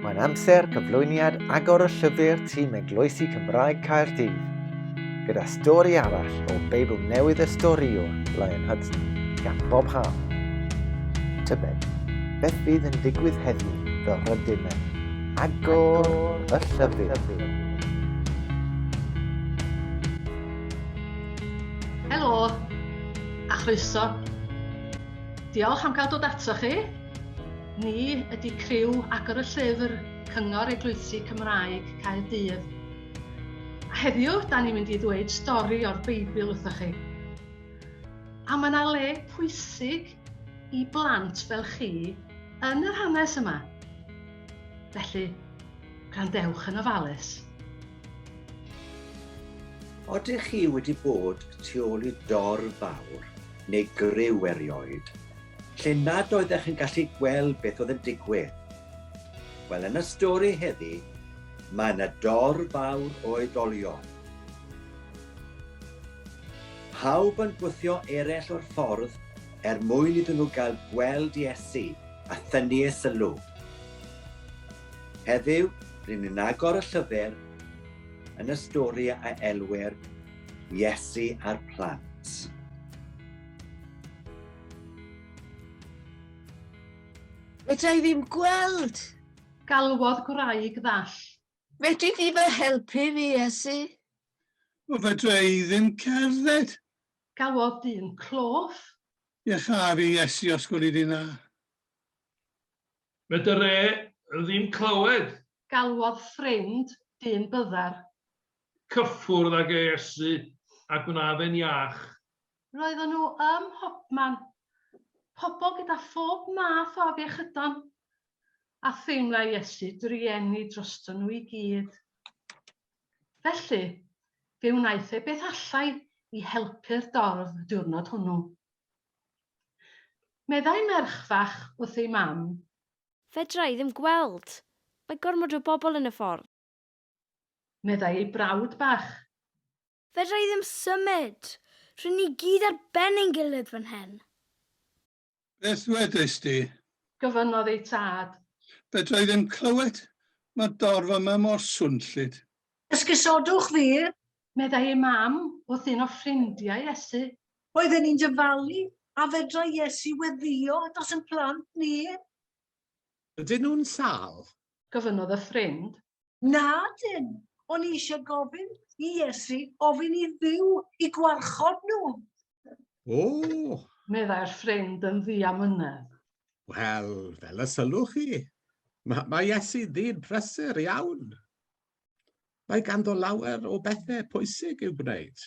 Mae'n amser cyflwyniad agor y llyfr tîm Eglwysi Cymraeg Caerdydd, gyda stori arall o Beibl Newydd y Storïwr, Lion Hudson, gan Bob Ham. Tybed, beth fydd yn digwydd heddiw fel rydym yn agor y llyfr? Helo, a chroeso. Diolch am cael dod ato chi. Ni ydy criw agor y llyfr Cyngor Eglwysi Cymraeg Caerdydd. A heddiw, da ni'n mynd i ddweud stori o'r Beibl wrthoch chi. A mae yna le pwysig i blant fel chi yn yr hanes yma. Felly, gwrandewch yn ofalus. Odych chi wedi bod tu ôl i dorf fawr neu griw erioed? lle nad oeddech yn gallu gweld beth oedd yn digwydd? Wel, yn y stori heddi, mae yna dor fawr o oedolion. Pawb yn gwthio eraill o'r ffordd er mwyn iddyn nhw gael gweld Iesu a thynnu ei sylw. Heddiw, rydyn ni'n agor y llyfr yn y stori a elwir Iesu a'r plant. Fedra i ddim gweld! Galwodd gwraig ddall. Fedri di fy helpu fi, Iesu? O, fedra i ddim cerdded! Galwodd dyn clof. Iesha fi, Iesu, os gweli di na. Fedr e ddim clywed! Galwodd ffrind dyn byddar. Cyffwrdd ag e, Iesu, a gwna fe'n iach. Roeddon nhw ym mhobman, pobl gyda phob math o afiechydon, a theimlai Iesu drueni droston nhw i gyd. Felly, fe wnaeth e beth allai i helpu'r dorf y diwrnod hwnnw. Meddai merch fach wrth ei mam. Fedra i ddim gweld. Mae gormod o bobl yn y ffordd. Meddai ei brawd bach. Fedra i ddim symud! Rŷn ni gyd ar ben ein gilydd fan hyn! Beth ddwedais di? Gofynnodd ei tad. Fedra i ddim clywed! Mae'r dorf yma mor swnllyd! Esgusodwch fi! Meddai ei mam wrth un o ffrindiau Iesu. Roedden ni'n dyfalu, a fedrai Iesu weddïo dros ein plant ni! Ydyn nhw'n sâl? gofynnodd y ffrind. Na, dim. O'n i eisiau gofyn i Iesu ofyn i Dduw i gwarchod nhw. O! Meddai'r ffrind yn ddiamynedd. Wel, fel y sylwch chi, mae, mae Iesu ddyn prysur iawn. Mae ganddo lawer o bethau pwysig i'w gwneud.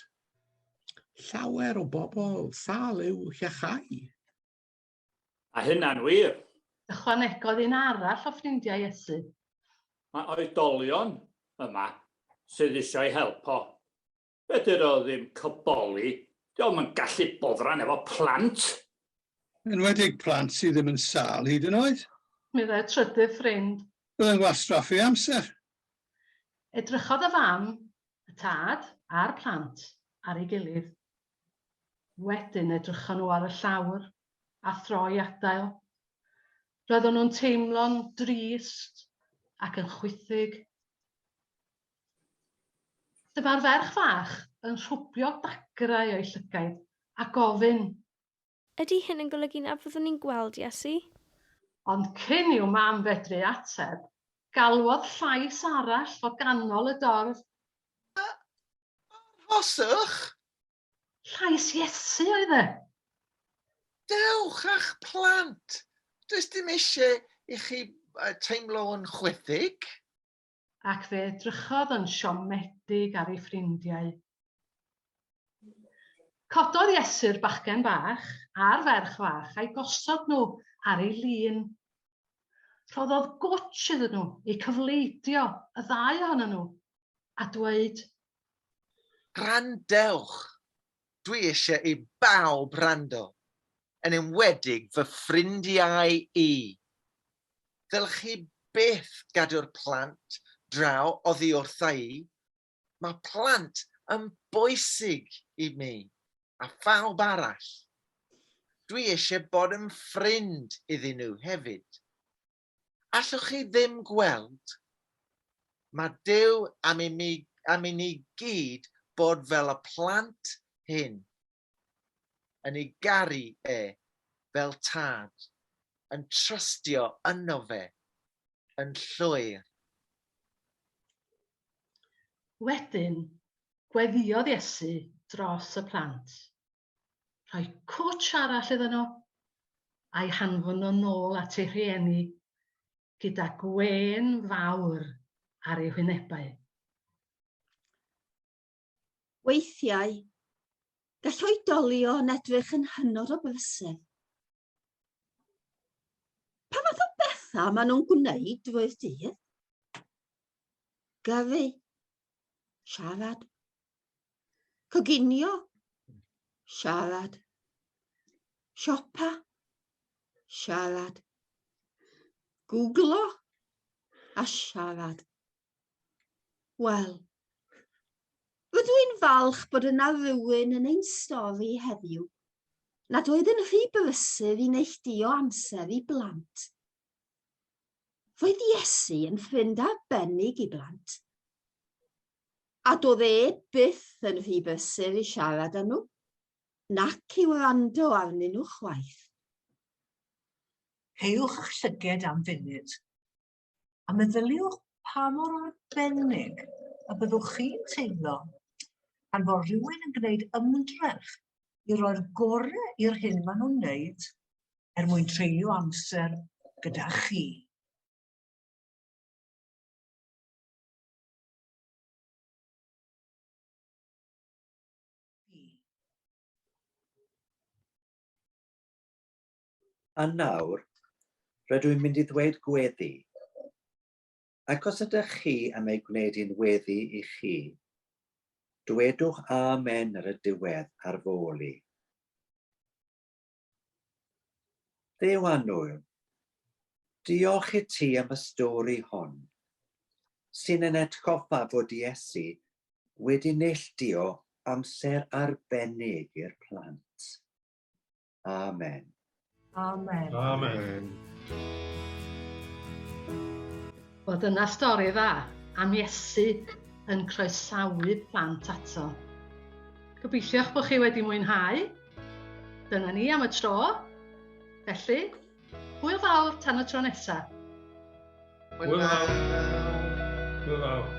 Llawer o bobl sal i'w hiachau. A hynna'n wir! Ychwanegodd un arall o ffrindiau Iesu. Mae oedolion yma sydd eisiau ei help o. Fedr o ddim cyboli, dio'm yn gallu boddran efo plant! Yn enwedig plant sydd ddim yn sâl hyd yn oed! Meddai'r trydydd ffrind. Byddai'n wastraff ei amser! Edrychodd y fam, y tad, a'r plant ar ei gilydd. Wedyn edrychon nhw ar y llawr, a thro i adael. Roeddon nhw'n teimlo'n drist ac yn chwithig. Dyma'r ferch fach yn rhwbio dagrau o'i llygaid a gofyn, Ydy hyn yn golygu na fyddwn ni'n gweld Iesu? Ond cyn i'w mam fedru ateb, galwodd llais arall o ganol y dorf. A, arhoswch! Llais Iesu oedd e! Dewch â'ch plant! Does dim eisiau i chi teimlo yn chwithig. ac fe edrychodd yn siomedig ar ei ffrindiau. Cododd Iesu'r bachgen bach a'r ferch fach a'i gosod nhw ar ei lun. Rhoddodd gwtsh iddyn nhw eu cyfleidio, y ddau ohonyn nhw, a dweud, Gwrandewch, Dwi eisiau i bawb wrando, yn enwedig fy ffrindiau i. Ddylch chi byth gadw'r plant draw oddi wrtha i, mae plant yn bwysig i mi a phawb arall. Dwi eisiau bod yn ffrind iddyn nhw hefyd. Allwch chi ddim gweld? Mae Duw am i mi, am i ni gyd bod fel y plant hyn, yn ei garu e fel tad, yn trystio yno fe, yn llwyr. Wedyn, gweddïodd Iesu dros y plant, rhoi cwtsh arall iddyn nhw, a'i hanfon nhw'n nôl at eu rhieni gyda gwên fawr ar eu hwynebau. Weithiau, gall oedolion edrych yn hynod o bleser, Pa fath o bethau maen nhw'n gwneud drwy'r dydd? Gyrru, siarad, coginio, siarad, siopa, siarad, googlo a siarad. Wel, rydw i'n falch bod yna rhywun yn ein stori heddiw nad oedd yn rhy brysur i neilltuo amser i blant. Roedd Iesu yn ffrind arbennig i blant, a doedd e byth yn rhy brysur i siarad â nhw, nac i wrando arnyn nhw chwaith. Cewch llyged am funud. a meddyliwch pa mor arbennig y byddwch chi'n teimlo pan fo rhywun yn gwneud ymdrech i roi'r gorau i'r hyn maen nhw'n wneud er mwyn treulio amser gyda chi. A nawr, rydw i'n mynd i ddweud gweddi. Ac os ydych chi am ei gwneud hi'n weddi i chi, dwedwch amen ar y diwedd ar fôl i. Dduw annwyl, diolch i ti am y stori hon, sy'n yn atgoffa fod Iesu wedi neilltuo amser arbennig i'r plant. Amen. Amen. Amen. Wel, dyna stori dda am Iesu yn croesawu plant ato. Gobeithiwch bod chi wedi mwynhau. Dyna ni am y tro. Felly, hwyl fawr tan y tro nesaf. Hwyl fawr. Hwyl fawr.